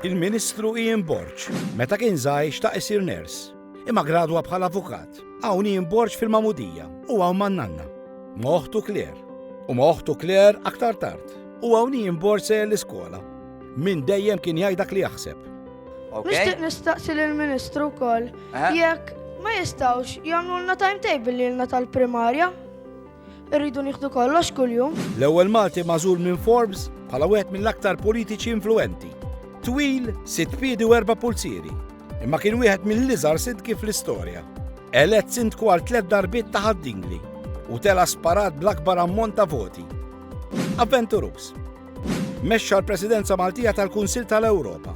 Il-Ministru Ian Borg, meta kien żgħir xtaq isir ners, imma gradwa bħala avukat. Hawn Ian Borg fil-Mamudija u hawn man-nanna. Ma' oħtu Kler. U ma' oħtu Kler aktar tard. U hawn Ian Borg se l-iskola. Min dejjem kien jgħid dak li jaħseb. Nixtieq nistaqsi lill-Ministru wkoll jekk ma jistgħux jagħmlulna timetable lilna tal-primarja. Irridu nieħdu kollox kuljum. L-ewwel Malti mażul minn Forbes bħala wieħed mill-aktar politiċi influenti. Twil, sitt piedi u erba' pulzieri, imma kien wieħed mill-iżgħar sidki fl-istorja. Elett sindku għal tliet darbiet ta' ħaddingli u tela sparat bl-akbar ammont ta' voti. Avventurus. Mexxa l-Presidenza Maltija tal-Kunsil tal-Ewropa.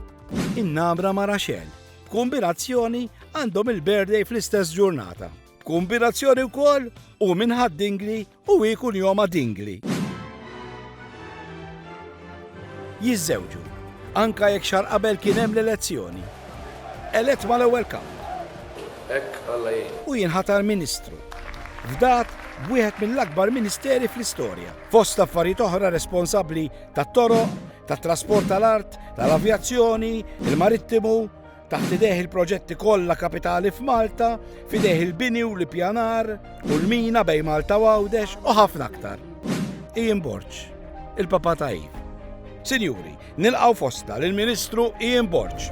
In-namra ma' Raxel. B'kombinazzjoni għandhom il-birthday fl-istess ġurnata. B'kumbinazzjoni wkoll u minħad dingli u ikun joma dingli. Jiżżewġu, anka jekk xar qabel kien hemm l-elezzjoni. Elett mal-ewwel kap. Hekk Alla jgħin. U jinħatar Ministru. Fdat b'wieħed mill-akbar ministeri fl-istorja. Fost affarijiet oħra responsabbli tat-toroq, tat-trasport tal-art, tal-avjazzjoni, il-marittimu, Taħt idejh il-proġetti kollha kapitali f'Malta, f'idejh il-bini u l-ippjanar, u l-mina bejn Malta u Għawdex u ħafna aktar. Ian Borġ, il-Papa Tajib. Sinjuri, nilqaw fosta lill-Ministru Ian Borġ.